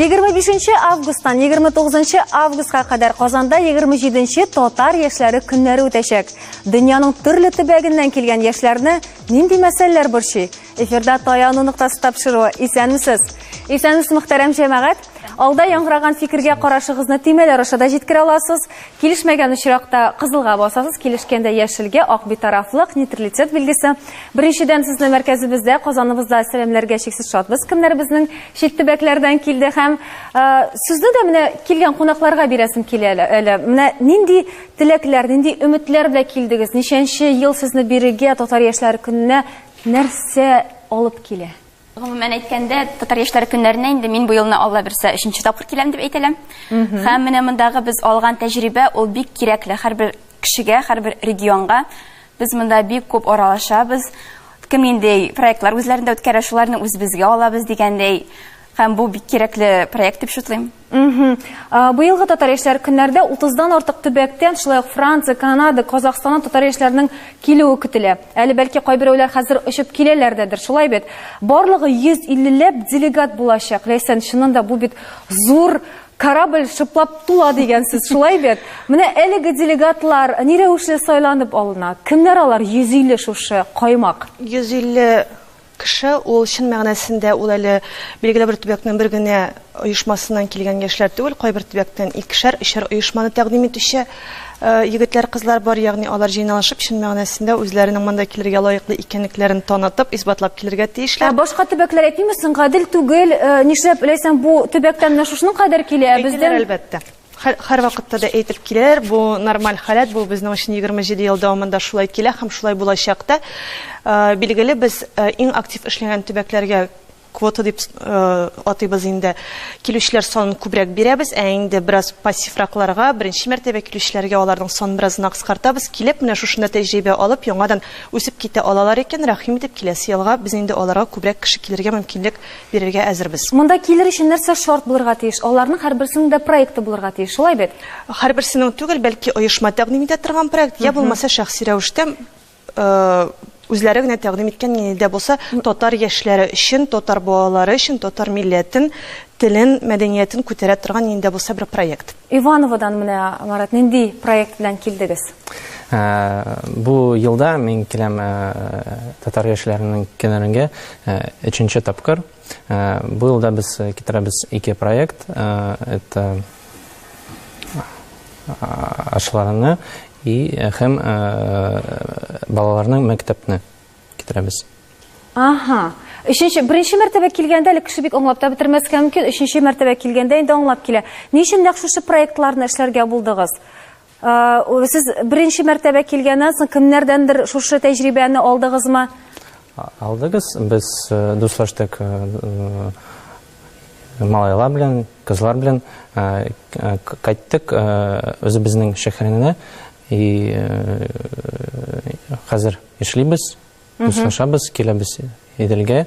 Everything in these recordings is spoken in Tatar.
Егерме августтан 29 августка кадәр Казанда 27 татар яшьләре көннәре үтәчәк. Дөньяның төрле төбәгеннән килгән яшьләрне нинди мәсьәләләр борчый? Эфирда таяну ноктасы тапшыруы. Исәнмесез. Исәнмесез, мөхтәрәм җәмәгать. Алда яңгыраган фикергә карашыгызны тимәләр аша да җиткерә аласыз. Килешмәгән очракта кызылга басасыз, килешкәндә яшелгә, ак битарафлык, нейтралитет билгесе. Беренчедән сезне мәркәзебездә, Казаныбызда сәламләргә чиксез шатбыз. Кемнәр безнең чит төбәкләрдән килде һәм ә, сүзне дә менә килгән кунакларга бирәсем килә әле. Менә нинди теләкләр, нинди өметләр белән килдегез? Ничәнче ел сезне бирегә татар яшьләре көненә Нәрсә алып килә? Гомумән әйткәндә, Татар яшьләре көннәренә инде мин бу елны Алла бирсә өченче тапкыр киләм дип әйтә алам. Һәм менә мондагы без алган тәҗрибә ул бик кирәкле һәрбер кешегә, һәрбер регионга. Без монда бик күп аралашабыз. Кем нинди проектлар үзләрендә үткәрә, шуларны үзебезгә алабыз дигәндәй. Һәм бу бик кирәкле проект дип шутлыйм. Мхм. Быелгы татар яшьләр көннәрдә 30 дан артык төбәктән, шулай ук Франция, Канада, Казахстаннан татар яшьләренең килүе көтелә. Әле бәлки кайберәүләр хәзер очып киләләр дәдер, шулай бит? Барлыгы 150 ләп делегат булачак. Ләйсән, чыннан да бу бит зур корабль шыплап тула дигән сүз, шулай бит? Менә әлеге делегатлар ни рәвешле сайланып алына? Кемнәр алар 150 шушы каймак? 150 Кеше ул чын мәгънәсендә ул әле билгеле бер төбәкнең бер генә оешмасыннан килгән яшьләр түгел, кайбер төбәктән икешәр, өчәр оешманы тәкъдим итүче егетләр, кызлар бар, ягъни алар җыйналышып чын мәгънәсендә үзләренең монда килергә лаеклы икәнлекләрен танытып, исбатлап килергә тиешләр. Ә башка төбәкләр әйтмиме соң, гадел түгел, нишләп ләйсән бу төбәктән менә шушының кадәр килә, ә бездән? Әйтәләр әлбәттә. Хәр, һәрвакытта да әйтеп киләләр, бу нормаль халәт, бу безнең өчен 27 ел дәвамында шулай килә һәм шулай булачак та. Билгеле, без иң актив эшләгән төбәкләргә квота дип атыйбыз инде, килүчеләр санын күбрәк бирәбез, ә инде бераз пассивракларга, беренче мәртәбә килүчеләргә аларның санын бераз гына кыскартабыз. Килеп, менә шушында тәҗрибә алып, яңадан үсеп китә алалар икән, рәхим итеп, киләсе елга без инде аларга күбрәк кеше килергә мөмкинлек бирергә әзербез. Монда килер өчен нәрсә шарт булырга тиеш? Аларның һәрберсенең дә проекты булырга тиеш, шулай бит? Һәрберсенең түгел, бәлки оешма тәкъдим итә торган проект, я булмаса шәхси рәвештә үзләре генә тәкъдим иткән нинди дә булса татар яшьләре өчен, татар балалары өчен, татар милләтен, телен, мәдәниятен күтәрә торган нинди дә булса бер проект. Ивановодан менә, Марат, нинди проект белән килдегез? Ә, бу елда мин киләм ә, татар яшьләренең көннәренә ә, өченче тапкыр. Ә, бу елда без китерәбез ике проект. Ә, это ашларны и һәм ә, балаларның мәктәпне. китерәбез. Аһа. Өченче, беренче мәртәбә килгәндә әле кеше бик аңлап та бетермәскә мөмкин. Өченче мәртәбә килгәндә инде аңлап килә. Ни өчен нәкъ шушы проектларны эшләргә булдыгыз? Сез беренче мәртәбә килгәннән соң кемнәрдәндер шушы тәҗрибәне алдыгызмы? Алдыгыз. Без дуслаштык малайлар белән, кызлар белән кайттык үзебезнең шәһәренә. И хәзер Эшлибез, дуслашабыз, киләбез Иделгә.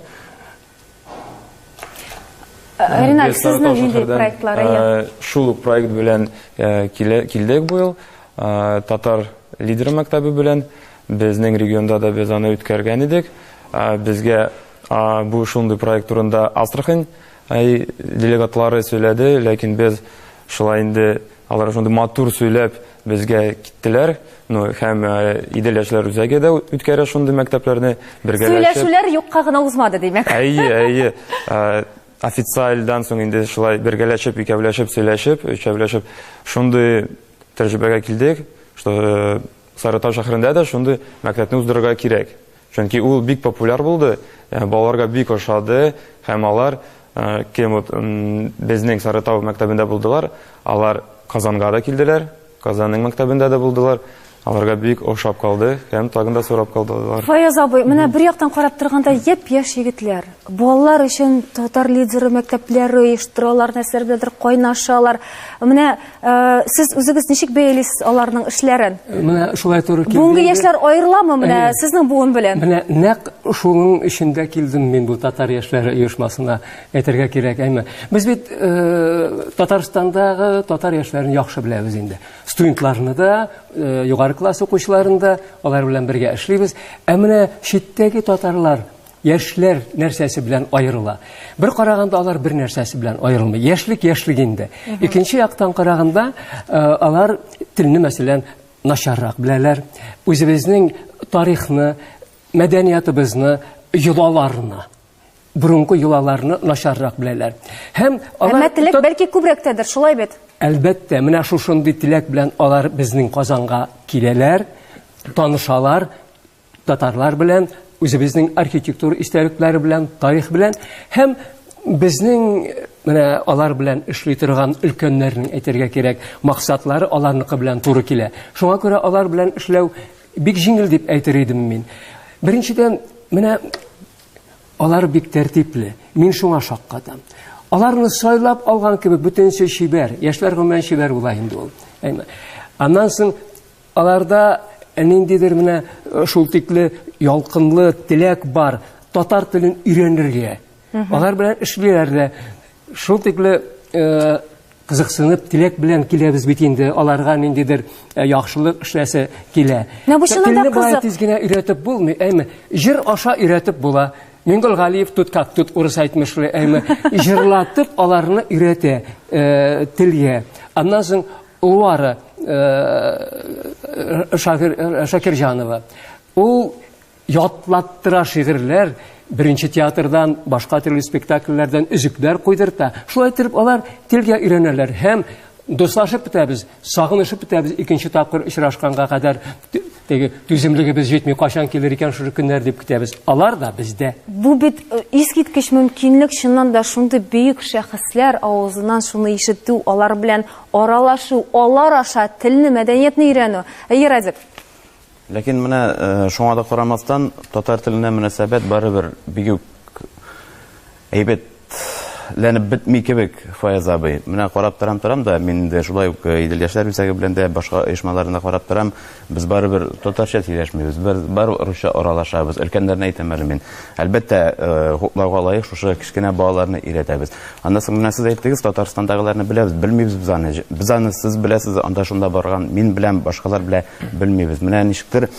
Э, Ринат, сезнең нинди проектлары? Э, шул ук проект белән э, килдек бу ел. Татар лидер мәктәбе белән безнең регионда да без аны үткәргән идек. Безгә бу шундый проект турында Астрахань делегатлары сөйләде, ләкин без шулай инде Алар шундый матур сөйләп безгә киттеләр. Ну, һәм Идел яшьләр үзәге дә үткәрә шундый мәктәпләрне бергәләшеп. Сөйләшүләр юкка гына узмады, димәк. Әйе, әйе. Официальдан соң инде шулай бергәләшеп, икәүләшеп, сөйләшеп, өчәүләшеп шундый тәҗрибәгә килдек, что Сарытау шәһәрендә дә шундый мәктәпне уздырырга кирәк. Чөнки ул бик популяр булды, э, балаларга бик ошады һәм алар э, кем вот безнең Сарытау мәктәбендә булдылар, алар Казанга да килделәр, Казанның мәктәбендә дә булдылар. Аларга бик ошап калды һәм тагын да сорап калдылар. Фаяз абый, менә бер яктан карап торганда яп яш егетләр. Балалар өчен татар лидеры мәктәпләре оештыралар, нәрсәләр беләндер кайнашалар. Менә Э, сез үзегез ничек бәялисез аларның эшләрен менә шулай туры килде бүгенге яшьләр аерыламы менә сезнең буын белән менә нәкъ шуның өчен дә килдем мин бу татар яшьләре оешмасына әйтергә кирәк әйме без бит э, татарстандағы татар яшьләрен яхшы беләбез инде студентларны да э, югары класс укучыларын да алар белән бергә эшлибез ә менә читтәге татарлар Яшьләр нәрсәсе белән аерыла? Бер караганда алар бер нәрсәсе белән аерылмый. Яшьлек яшьлек инде. Икенче яктан караганда, э, алар телне мәсәлән начаррак беләләр. Үзебезнең тарихны, мәдәниятыбызны, йолаларны, борынгы йолаларны начаррак беләләр. Һәм алар Әмма теләк бәлки күбрәктәдер, шулай бит? Әлбәттә, менә шушындый теләк белән алар безнең Казанга киләләр, танышалар, татарлар белән, үзебезнең архитектур истәлекләре белән, тарих белән һәм безнең менә алар белән эшли торган өлкәннәрнең әйтергә кирәк, максатлары аларныкы белән туры килә. Шуңа күрә алар белән эшләү бик җиңел дип әйтер идем мин. Беренчедән, менә алар бик тәртипле. Мин шуңа шаккатам. Аларны сайлап алган кебек бөтенесе чибәр. Яшьләр гомумән чибәр була инде ул. Әйме. Аннан соң Аларда ниндидер менә шул тикле ялкынлы теләк бар, татар телен өйрәнергә. Алар белән эшлиләр дә. Шул тикле кызыксынып, теләк белән киләбез бит инде, аларга ниндидер э, яхшылык эшләсе килә. Менә бу чынында Телне бая тиз генә өйрәтеп булмый, әйме. Җыр аша өйрәтеп була. Мингол Галиев тут как тут урыс әйтмешле, әйме. Җырлатып аларны өйрәтә э, телгә. Аннан соң Улары Шакирҗанова. Ул ятлаттыра шигырьләр, беренче театрдан, башка төрле спектакльләрдән өзекләр куйдырта. Шулай итеп алар телгә өйрәнәләр һәм дуслашып бетәбез, сагынышып бетәбез икенче тапкыр очрашканга кадәр теге түземлегебез җитми, кайчан килер икән шушы көннәр дип көтәбез. Алар да бездә. Бу бит э, искиткеч мөмкинлек, чыннан да шундый бөек шәхесләр авызыннан шуны ишетү, алар белән Аралашу, алар аша телне, мәдәниятне өйрәнү. Әйе, Радик? Ләкин менә э, шуңа да карамастан, татар теленә мөнәсәбәт барыбер бик үк әйбәт ләнеп бетми кебек Фаяз абый. Менә карап торам торам да, мин инде шулай ук э, Идел яшьләр үзәге белән дә башка оешмаларны карап торам. Без барыбер татарча сөйләшмибез, без бар русча аралашабыз. Өлкәннәрне әйтәм әле мин. Әлбәттә, э, хуплауга лаек шушы кечкенә балаларны өйрәтәбез. Аннан соң менә сез әйттегез, Татарстандагыларны беләбез, белмибез без аны. Без аны сез беләсез, анда шунда барган, мин беләм, башкалар белә, белмибез. Менә ничектер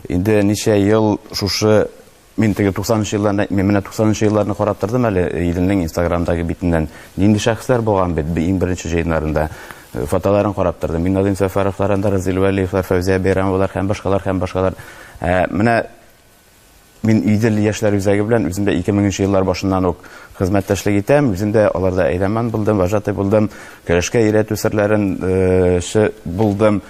инде ничә ел шушы Мин теге 90 нчы елларны әйтмим, менә 90 нчы елларны карап тордым әле Иделнең инстаграмдагы битеннән. Нинди шәхесләр булган бит иң беренче җыеннарында. Э, фотоларын карап тордым. Мин Назим Сәфәровлар, Андар Разил Вәлиевлар, Фәүзия Бәйрәмовалар һәм башкалар һәм башкалар. Ә, э, менә мин Идел яшьләр үзәге белән үзем дә 2000 нчы еллар башыннан ук хезмәттәшлек итәм. Үзем дә аларда әйләман булдым, вожатый булдым, көрәшкә өйрәтү серләрен э, булдым.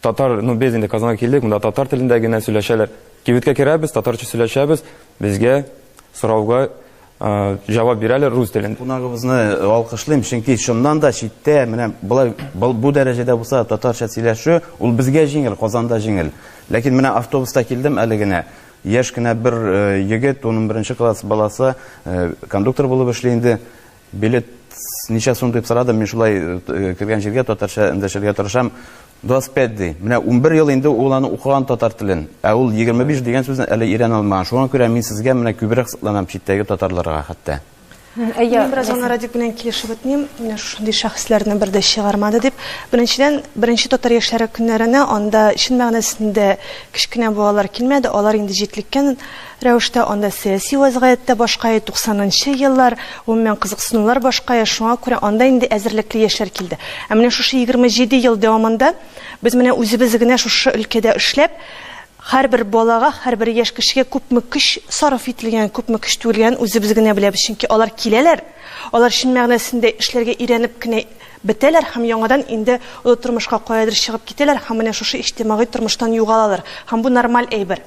Татар, ну без инде Казанга килдек, монда татар телендә генә сөйләшәләр. Кибеткә керәбез, татарча сөйләшәбез, безгә сорауга җавап бирәләр рус телендә. Кунагыбызны алкышлыйм, чөнки чыннан да читтә менә болай бу дәрәҗәдә булса татарча сөйләшү, ул безгә җиңел, Казанда җиңел. Ләкин менә автобуста килдем әле генә. Яшь кенә бер егет, 11 нче класс баласы, кондуктор булып эшли инде. Билет ничә сум дип сорадым, мин шулай э, кергән җиргә татарча эндәшергә тырышам. 25 ди. Менә 11 ел инде ул аны укыган татар телен. Ә ул 25 дигән сүзне әле өйрәнә алмаган. Шуңа күрә мин сезгә менә күбрәк сокланам читтәге татарларга хәтта. Әйе, бераз ана Радик белән килешеп үтмим. Менә шушындый шәхесләрне бер дә чыгармады дип. Беренчедән, беренче татар яшьләре көннәренә анда чын мәгънәсендә кечкенә балалар килмәде. Алар инде җитлеккән Рәвештә анда сәяси вәзгыять тә башкае, туксанынчы еллар, гомумән, кызыксынулар башкае, шуңа күрә анда инде әзерлекле яшьләр килде. Ә менә шушы егерме җиде ел дәвамында без менә үзебез генә шушы өлкәдә эшләп, һәрбер балага, һәрбер яшь кешегә күпме көч сарыф ителгәнен, күпме көч түгелгәнен үзебез генә беләбез, чөнки алар киләләр, алар чын мәгънәсендә эшләргә өйрәнеп кенә бетәләр һәм яңадан инде олы тормышка каядыр чыгып китәләр һәм менә шушы иҗтимагый тормыштан югалалар һәм бу нормаль әйбер.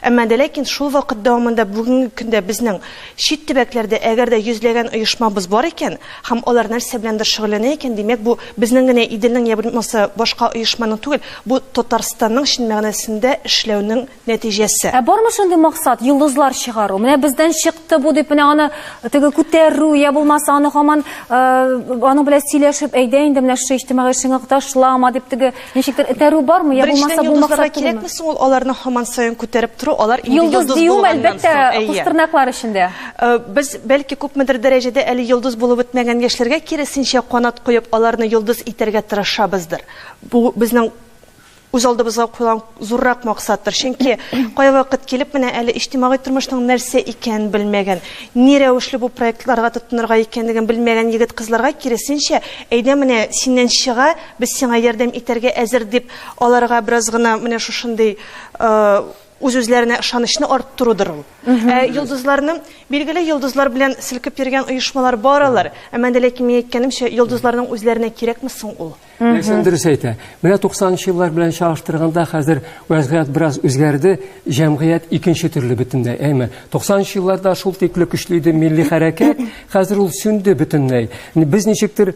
Әмма дә ләкин шул вакыт дәвамында бүгенге көндә безнең чит төбәкләрдә әгәр дә йөзләгән оешмабыз бар икән һәм алар нәрсә беләндер шөгыльләнә икән, димәк, бу безнең генә Иделнең йә булмаса башка оешманың түгел, бу Татарстанның чын мәгънәсендә эшләүнең нәтиҗәсе. Ә бармы шундый максат, йолдызлар чыгару? Менә бездән чыкты бу дип, менә аны теге күтәрү йә булмаса аны һаман аның белән сөйләшеп, әйдә инде менә шушы иҗтимагый шыңык ташлама дип теге Ничектер этәрү бармы, я булмаса бу максат кирәкме соң ул аларны һаман саен күтәреп тору, алар инде йолдыз дию әлбәттә, кустырнаклар эчендә. Э, без бәлки күпмедер дәрәҗәдә әле йолдыз булып бетмәгән яшьләргә киресенчә канат куеп, аларны йолдыз итәргә тырышабыздыр. Бу безнең үз алдыбызга куйган зуррак максаттыр. Чөнки кая вакыт килеп менә әле иҗтимагый тормышның нәрсә икәнен белмәгән, ни рәвешле бу проектларга тотынырга икәнлеген белмәгән егет-кызларга киресенчә, әйдә менә синнән чыга, Без сиңа ярдәм итәргә әзер, дип, аларга бераз гына менә шушындый үз-үзләренә ышанычны арттырудыр ул. Ә йолдызларны, билгеле, йолдызлар белән селкеп йөргән оешмалар бар алар. Әмма анда ләкин мин әйткәнемчә, йолдызларның үзләренә кирәкме соң ул? Ләйсән дөрес әйтә. Менә 90 нчы еллар белән чагыштырганда хәзер вәзгыять бераз үзгәрде, җәмгыять икенче төрле бөтенләй. Әйме, 90 нчы елларда шул тикле көчле иде милли хәрәкәт, хәзер ул сүнде бөтенләй. Без ничектер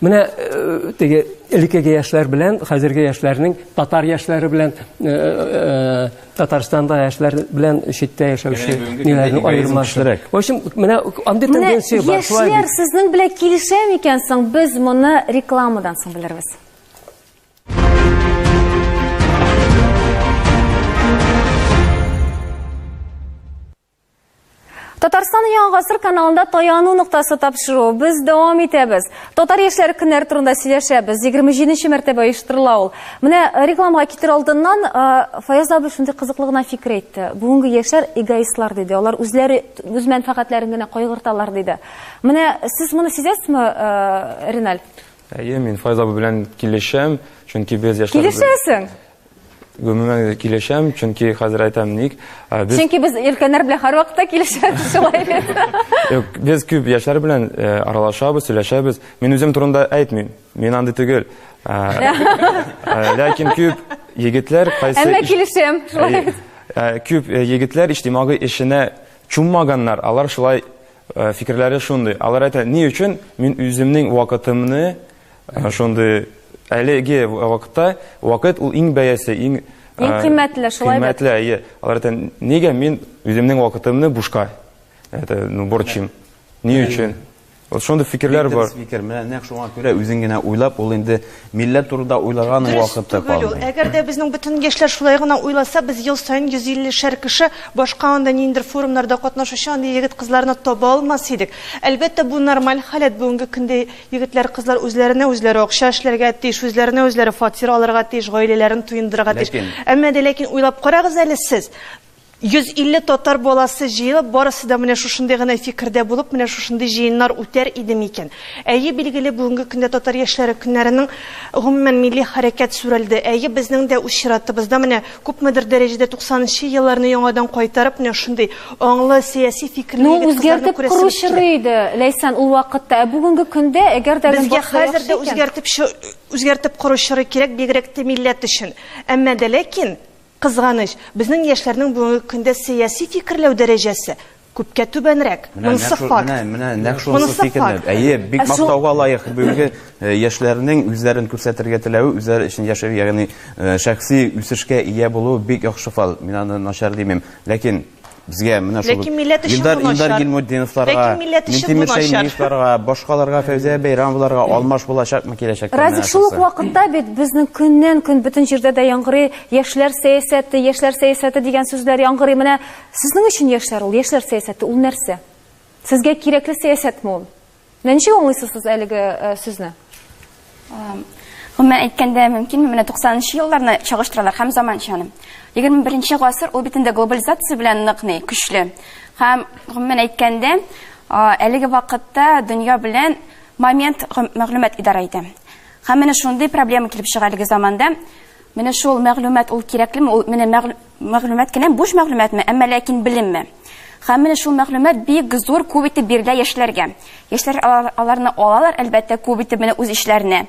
Менә э, теге элеккеге яшьләр белән хәзерге яшьләрнең татар яшьләре белән э, э, Татарстанда яшьләр белән читтә яшәүче ниләрнең аермасы. В общем, менә андый тенденция бар. Яшьләр сезнең белән килешә микән соң? Без моны рекламадан соң белербез. Татарстан Яңа гасыр каналында таяну ноктасы тапшыру. Без дәвам итәбез. Татар яшьләре көннәр турында сөйләшәбез. 27 нче мәртәбә оештырыла ул. Менә э, рекламага китер алдыннан э, Фаяз абый шундый кызыклы гына фикер әйтте. Бүгенге яшьләр эгоистлар диде. Алар үзләре үз мәнфәгатьләрен генә кайгырталар диде. Менә сез моны сизәсезме, э, Реналь? Әйе, мин Фаяз абый белән килешәм, чөнки без яшьләр Килешәсең? Гомумән дә килешәм, чөнки хәзер әйтәм ник. ә, Без Чөнки без өлкәннәр белән һәрвакытта килешәбез шулай бит. Юк, без күп яшьләр белән э, аралашабыз, сөйләшәбез. Мин үзем турында әйтмим. Мин андый түгел. Ә, ә, Ләкин күп егетләр кайсы Әмма иш- килешәм. шулай Ә, бит. ә, күп э, егетләр иҗтимагый эшенә чуммаганнар. Алар шулай э, фикерләре шундый. Алар әйтә, ни өчен мин үземнең вакытымны Шундый әлеге вакытта вакыт ул иң бәясе, иң Иң кыйммәтле, шулай бит? Кыйммәтле, әйе. Алар әйтә, нигә мин үземнең вакытымны бушка это, ну, борчыйм? Ни өчен? Вот шундый фикерләр бар. Фикер, менә нәкъ шуңа күрә үзең генә уйлап, ул инде милләт турында уйлаган вакыты калмый. Әгәр дә безнең бөтен яшьләр шулай гына уйласа, без ел саен 150 шәр кеше башка анда ниндер форумнарда катнашучы андый егет-кызларны таба алмас идек. Әлбәттә, бу нормаль халәт бүгенге көндә Егетләр, кызлар үзләренә үзләре акча эшләргә тиеш, үзләренә үзләре фатир алырга тиеш, гаиләләрен туендырырга тиеш. Ләкин... Әмма дә ләкин уйлап карагыз әле сез, 150 татар баласы җыелып, барысы да менә шушындый гына фикердә булып, менә шушындый җыеннар үтәр иде микән? Әйе, билгеле, бүгенге көндә татар яшьләре көннәренең, гомумән, милли хәрәкәт сүрелде. Әйе, безнең дә үз чиратыбызда менә Күпмедер дәрәҗәдә туксанынчы елларны яңадан кайтарып, менә шундый аңлы, сәяси фикерле Ну, егет-кызларны үзгәртеп күрәсебез кору килә. чоры иде, Ләйсән, ул вакытта. Ә бүгенге көндә, әгәр дә Безгә Гөнбатышта хәзер яхшы дә икән. үзгәртеп чо, үзгәртеп кору чоры кирәк, бигрәк тә милләт өчен. Әмма дә ләкин, кызганыч, безнең яшьләрнең бүгенге көндә сәяси фикерләү дәрәҗәсе Күпкә түбәнрәк. Монысы факт. Менә, менә, нәкъ шунысы фикерне. Әйе, бик ә мактауга лаек бүгенге э, яшьләрнең үзләрен күрсәтергә теләве, үзләре өчен яшәү, ягъни э, шәхси үсешкә ия булуы бик яхшы фал. Мин аны начар димим. Ләкин безгә менә шул Ләкин милләт өчен Илдар, бу Илдар Гилмутдиновларга, Ләкин милләт өчен Минтимер бу Шәймиевларга, башкаларга Фәүзия Бәйрәмовларга алмаш булачакмы киләчәктә? Разик, шул ук вакытта бит безнең көннән-көн бөтен җирдә дә яңгырый яшьләр сәясәте, яшьләр сәясәте дигән сүзләр яңгырый. Менә Сезнең өчен яшьләр ул, яшьләр сәясәте ул нәрсә? Сезгә кирәкле сәясәтме ул? Менә ничек аңлыйсыз сез әлеге э, сүзне? Гомумән әйткәндә, мөмкинме, менә 90 нчы елларны чагыштыралар һәм заманчаны. 21 нче гасыр ул бит инде глобализация белән нык ни, көчле. Һәм гомумән әйткәндә, әлеге вакытта дөнья белән момент мәгълүмат идарә итә. Һәм менә шундый проблема килеп чыга әлеге заманда. Менә шул мәгълүмат ул кирәклеме? Ул менә Мәгълүмат кенә буш мәгълүматмы, әмма ләкин белемме? Һәм менә шул мәгълүмат бик зур күп итеп бирелә яшьләргә. Яшьләр аларны алалар, әлбәттә, күп итеп менә үз эшләренә.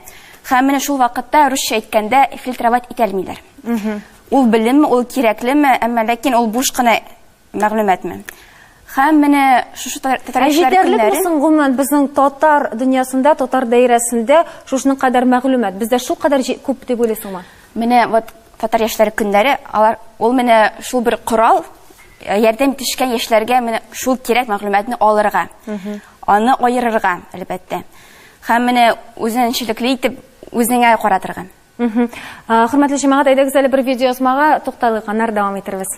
Һәм менә шул вакытта, русча әйткәндә, фильтровать итәлмиләр. Ул белемме, ул кирәклеме, әмма ләкин ул буш кына мәгълүматмы? Һәм менә шушы татар яшьләре көннәре... Ә җитәрлек булсын, гомумән, безнең татар дөньясында, татар даирәсендә шушының кадәр мәгълүмат. Бездә шул кадәр күп дип уйлыйсыңмы? Менә вот татар яшьләре көннәре, алар ул менә шул бер корал, ярдәм итешкән яшьләргә менә шул кирәк мәгълүматны алырга, аны аерырга, әлбәттә. Һәм менә үзенчәлекле итеп үзеңә каратырга. Хөрмәтле җәмәгать, әйдәгез әле бер видеоязмага тукталыйк, аннары дәвам итәрбез.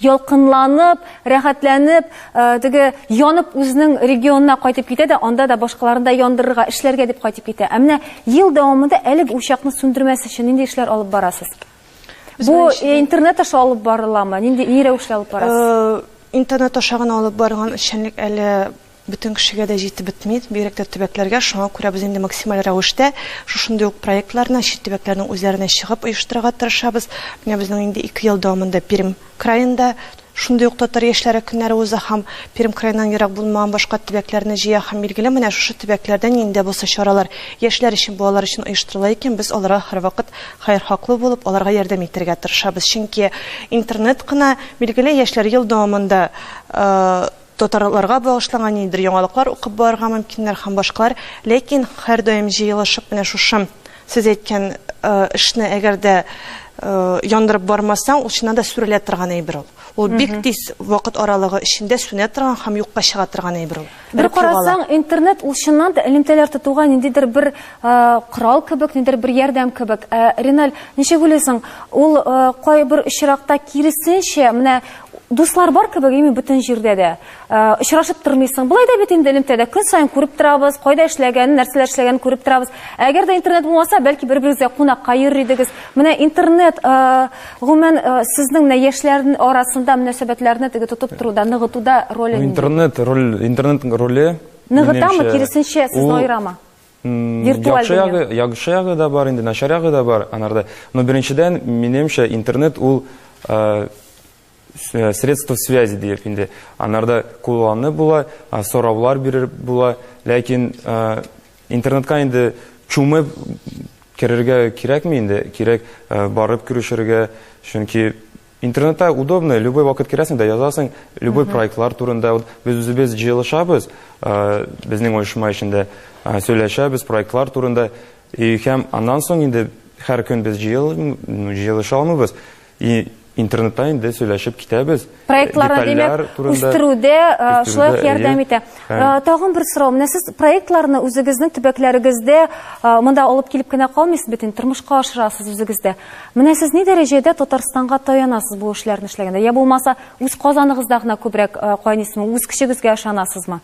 ялкынланып, рәхәтләнеп, теге янып үзенең регионына кайтып китә дә, анда да башкаларны да яндырырга, эшләргә дип кайтып китә. Ә менә ел дәвамында әлег учакны сүндермәс өчен нинди эшләр алып барасыз? Бу интернет аша алып барыламы? Нинди ни рәвешле алып барасыз? Интернет аша гына алып барган эшчәнлек әле Бөтен кешегә дә җитеп бетми, бигрәк тә төбәкләргә. Шуңа күрә без инде максималь рәвештә шушындый ук проектларны чит төбәкләрнең үзләренә чыгып оештырырга тырышабыз. Менә безнең инде ике ел дәвамында Пермь краенда шундый ук татар яшьләре көннәре уза һәм Пермь краеннан ерак булмаган башка төбәкләрне җыя һәм билгеле менә шушы төбәкләрдә ниндә булса чаралар яшьләр өчен, балалар өчен оештырыла икән, без аларга һәрвакыт хәерхаклы булып, аларга ярдәм итәргә тырышабыз. Чөнки интернет кына, билгеле, яшьләр ел дәвамында Татарларга багышланган ниндидер яңалыклар укып барырга мөмкиннәр һәм башкалар, ләкин һәрдаим җыелышып менә шушы сез әйткән эшне әгәр дә яндырып бармасаң, ул чыннан да сүрелә торган әйбер ул. Ул бик тиз вакыт аралыгы эчендә сүнә торган һәм юкка чыга торган әйбер ул. Бер карасаң, интернет ул чыннан да элемтәләр тотуга ниндидер бер корал кебек, ниндидер бер ярдәм кебек. Ә, Реналь, ничек уйлыйсың, ул кайбер очракта киресенчә, менә Дуслар бар кебек, ими бөтен җирдә дә. Э, очрашып тормыйсың. Былай да бит инде элемтәдә көн саен күреп торабыз, кайда эшләгәнен, нәрсәләр эшләгәнен күреп торабыз. Әгәр дә интернет булмаса, бәлки бер-берегезгә кунакка йөрер идегез. Менә интернет, э, гомумән, э, сезнең менә яшьләрнең арасында мөнәсәбәтләрне теге тотып торуда, ныгытуда роле нинди? Интернет роль, интернетның роле ныгытамы, киресенчә, сезне аерамы? Виртуаль Яхшы дөнья. ягы, яхшы ягы да бар инде, начар ягы да бар анарда. Но беренчедән, минемчә, интернет ул э, с- э, средство связи диеп инде. Анарда кулланып була, а, сораулар биреп була, ләкин э, интернетка инде чумып керергә кирәкми инде, кирәк э, барып күрешергә, чөнки Интернетта удобно, любой вакыт керәсең дә язасың, любой проектлар турында. Вот без үзебез җыелышабыз, э, безнең оешма эчендә э, сөйләшәбез проектлар турында. И һәм аннан соң инде һәр көн без җыел, ну, җыелыша алмыйбыз. И интернетта инде сөйләшеп китәбез. Проектларны, Детальләр димәк, турында, үстерүдә, э, шулай ук үстерүдә, ярдәм әйе. итә. Ә, тагын бер сорау. Менә сез проектларны үзегезнең төбәкләрегездә ә, монда алып килеп кенә калмыйсыз бит инде, тормышка ашырасыз үзегездә. Менә сез ни дәрәҗәдә Татарстанга таянасыз бу эшләрне эшләгәндә? Я булмаса, үз Казаныгызда гына күбрәк ә, кайныйсызмы? Үз көчегезгә ышанасызмы?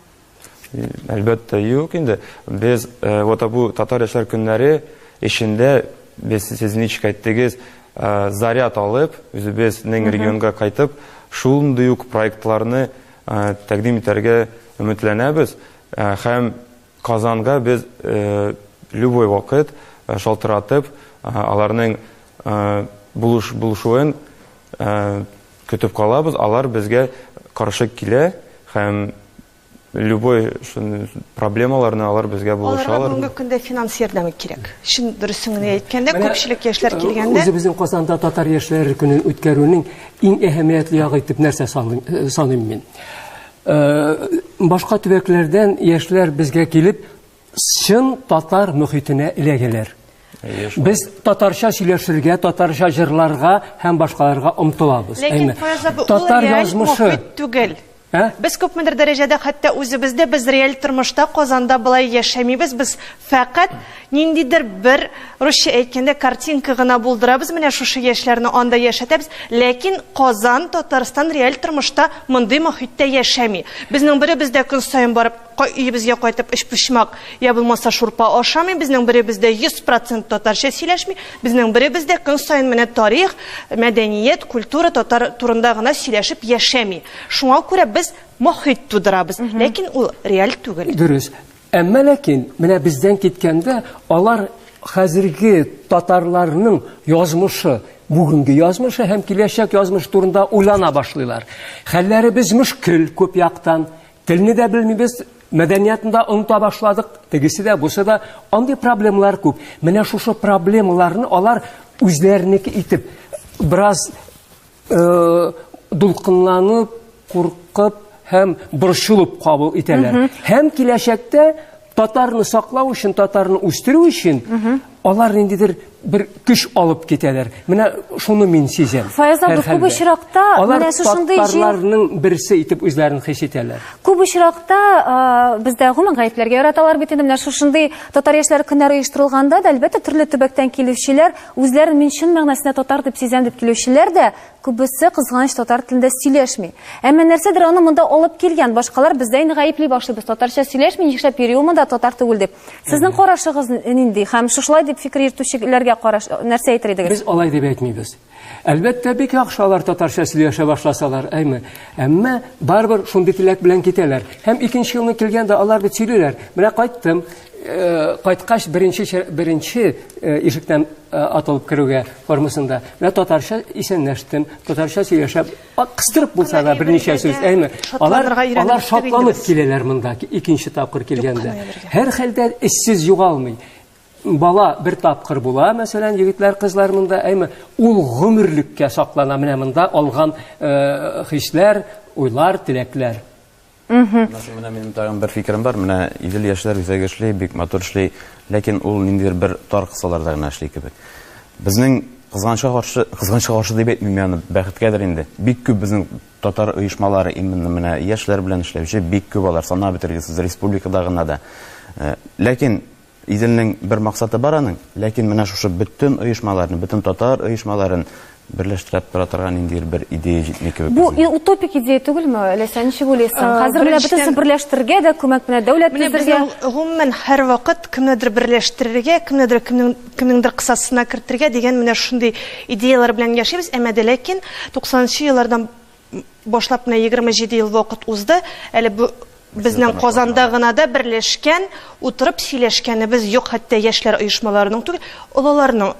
Әлбәттә, юк инде. Без ә, вот бу татар яшьләр көннәре эшендә без сез ничек әйттегез, ә, заряд алып, үзебезнең регионга кайтып, шундый ук проектларны тәкъдим итәргә өметләнәбез һәм Казанга без любой вакыт шалтыратып, аларның булышуын көтеп калабыз. Алар безгә каршы килә һәм любой проблемаларны алар безгә булышалар. Аларга бүгенге көндә финанс ярдәме кирәк. Чын дөресен генә әйткәндә, күпчелек яшьләр килгәндә. Үзебезнең Казанда татар яшьләре көнен үткәрүнең Иң әһәмиятле ягы итеп нәрсә саныйм мин? Башка төбәкләрдән яшьләр безгә килеп, чын татар мөхитенә эләгәләр. Без татарча сөйләшергә, татарча җырларга һәм башкаларга омтылабыз. Ләкин татар язмышы түгел. Ә? Без күпмедер дәрәҗәдә хәтта үзебез дә без реаль тормышта Казанда болай яшәмибез, без фәкать ниндидер бер русча әйткәндә картинка гына булдырабыз, менә шушы яшьләрне анда яшәтәбез, ләкин Казан, Татарстан реаль тормышта мондый мохиттә яшәми. Безнең беребез дә көн саен барып Кай өебезгә кайтып өчпочмак я булмаса шурпа ашамый, безнең беребез дә 100 процент татарча сөйләшми, безнең беребез дә көн саен менә тарих, мәдәният, культура, татар турында гына сөйләшеп яшәми. Шуңа күрә без мохит тудырабыз, ләкин ул реаль түгел. Дөрес. Әмма ләкин менә бездән киткәндә алар хәзерге татарларның язмышы, бүгенге язмышы һәм киләчәк язмышы турында уйлана башлыйлар. Хәлләребез мөшкел күп яктан, Телне дә белмибез, мәдәниятны да оныта башладык, тегесе дә, бусы да. Андый проблемалар күп. Менә шушы проблемаларны алар үзләренеке итеп, бераз э, дулкынланып, куркып һәм борчылып кабул итәләр. Һәм киләчәктә Татарны саклау өчен, татарны үстерү өчен алар ниндидер бер көч алып китәләр. Менә шуны мин сизәм. Фаяз абый, күп очракта менә шушындый җир... берсе итеп үзләрен хис итәләр. Күп очракта бездә гомум гаепләргә яраталар бит инде. Менә шушындый татар яшьләре көннәре оештырылганда да, әлбәттә, төрле төбәктән килүчеләр, үзләрен мин чын мәгънәсендә татар дип сизәм дип килүчеләр дә Күбесе, кызганыч, татар телендә сөйләшми. Әмма нәрсәдер аны монда алып килгән. Башкалар бездә инде гаепли башлыйбыз. Татарча сөйләшми, нишләп йөри ул монда татар түгел дип. Сезнең карашыгыз нинди? Һәм шушылай дип фикер йөртүчеләргә караш нәрсә әйтер идегез? Без алай дип әйтмибез. Әлбәттә, бик яхшы алар татарча сөйләшә башласалар, әйме. Әмма барыбер шундый теләк белән китәләр. Һәм икенче елны килгәндә алар бит сөйлиләр, менә кайттым, Э, кайткач беренче беренче э, ишектән э, атылып керүгә формасында менә татарча исәнләштем татарча сөйләшәм кыстырып булса да берничә сүз әйме алар алар шатланып киләләр монда икенче тапкыр килгәндә һәр хәлдә эшсез югалмый бала бер тапкыр була мәсәлән егетләр кызлар монда әйме ул гомерлеккә саклана менә монда алган хисләр уйлар теләкләр Менә минем тагын бер фикерем бар. Менә Идел яшьләр үзәге эшли, бик матур эшли, ләкин ул ниндидер бер тар кысаларда гына эшли кебек. Безнең кызганычка каршы, кызганычка каршы дип әйтмим, ягъни бәхеткәдер инде. Бик күп безнең татар оешмалары именно менә яшьләр белән эшләүче бик күп алар, санап бетергесез, республикада гына да. Ләкин Иделнең бер максаты бар аның, ләкин менә шушы бөтен оешмаларны, бөтен татар оешмаларын берләштереп тора торган ниндидер бер идея җитми кебек. Бу и- утопик идея түгелме, Ләйсән, ничек уйлыйсың? Э, Хәзер менә беренчедән- бөтенесен берләштерергә дә, күмәк менә дәүләт Менә төзергә. безнең гомумән һәрвакыт кемнедер берләштерергә, кемнедер кемнең кемнеңдер кысасына кертергә дигән менә шундый идеяләр белән яшибез, әмма дә ләкин 90 нчы еллардан башлап менә 27 ел вакыт узды. Әле бу безнең Казанда гына да берләшкән, утырып сөйләшкәнебез юк, хәтта яшьләр оешмаларының түгел, олыларның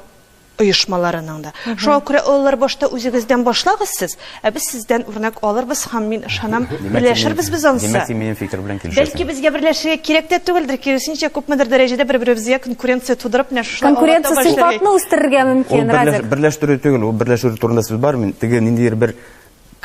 оешмаларының да. Шуңа күрә олылар башта үзегездән башлагыз сез, ә без сездән үрнәк алырбыз һәм мин ышанам, берләшербез без ансы. Димәк, син минем фикер белән килешәсең. Бәлки безгә берләшергә кирәк тә түгелдер, киресенчә, күпмедер дәрәҗәдә бер-беребезгә конкуренция тудырып, менә Конкуренция сыйфатны үстерергә мөмкин, Радик. Берләштерү түгел, ул берләшү турында сүз бар, мин теге ниндидер бер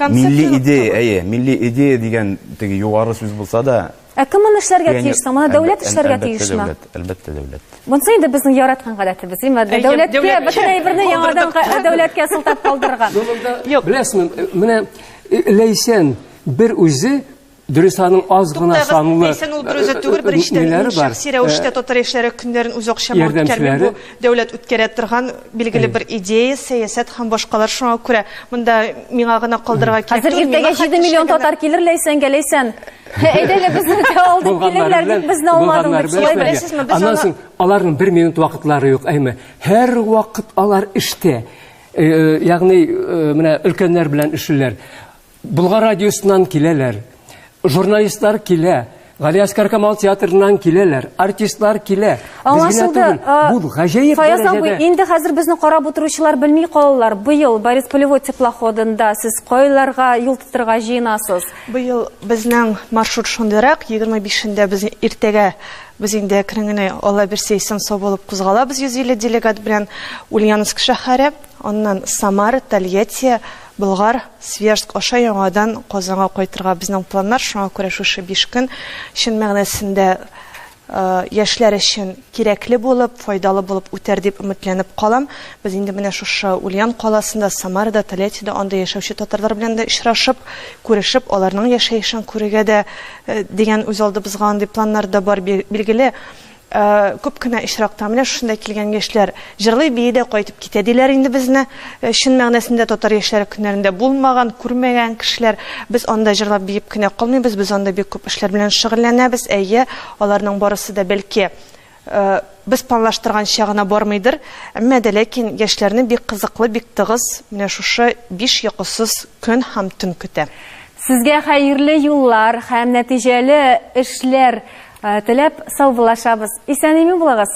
милли идея, әйе, милли идея дигән теге югары сүз булса да, Ә кем моны эшләргә тиеш соң? Моны дәүләт эшләргә тиешме? Әлбәттә, дәүләт. Монысы инде безнең яраткан гадәтебез, имма дәүләткә бөтен әйберне яңадан дәүләткә сылтап калдырырга. Юк. Беләсезме, менә Ләйсән бер үзе Дөрес, аның аз гына санлы. Ләйсән ул берүзе э, түгел, э, беренчедән мин шәхси рәвештә э, татар яшьләре көннәрен үз акчама үткәрмим. Бу дәүләт үткәрә торган билгеле бер идея, сәясәт һәм башкалар шуңа күрә монда миңа гына калдырырга кирәк. Хәзер иртәгә 7 миллион татар килер Ләйсәнгә, Ләйсән. Әйдәле безне дә алдык килерләр дип безне алмадың дип шулай беләсезме? Без аннан соң аларның бер минут вакытлары юк, әйме. Һәр вакыт алар эштә. Ягъни менә өлкәннәр белән эшлиләр. Болгар радиосыннан киләләр. Журналистлар килә. Галиәскәр Камал театрыннан киләләр, артистлар килә. Аңлашылды. Бу гаҗәеп Фаяз абый, инде хәзер безне карап утыручылар белми калалар. Быел Борис Полевой теплоходында сез кайларга юл тотырга җыенасыз? Быел безнең маршрут шундыйрак, 25-ндә без иртәгә без инде әкрен Алла бирсә исән сау булып кузгалабыз 150 делегат белән Ульяновск шәһәре, аннан Самара, Тольятти, Болгар, Свияжск аша яңадан Казанга кайтырга безнең планнар, шуңа күрә шушы биш көн чын мәгънәсендә яшьләр өчен кирәкле булып, файдалы булып үтәр дип өметләнеп калам. Без инде менә шушы Ульян каласында, Самарада, Тольяттида анда яшәүче татарлар белән дә очрашып, күрешеп, аларның яшәешен күрергә дә дигән үзалдыбызга андый планнар да бар. Билгеле, Күп кенә очракта менә шушында килгән яшьләр җырлый-бии дә кайтып китә, диләр инде безне. Чын мәгънәсендә татар яшьләре көннәрендә булмаган, күрмәгән кешеләр. Без анда җырлап-биеп кенә калмыйбыз, без анда бик күп эшләр белән шөгыльләнәбез. Әйе, аларның барысы да, бәлки, без планлаштырганча гына бармыйдыр, әмма дә ләкин яшьләрне бик кызыклы, бик тыгыз менә шушы биш йокысыз көн һәм төн көтә. Сезгә хәерле юллар һәм нәтиҗәле эшләр Теләп саубуллашабыз. Исән-имин булыгыз!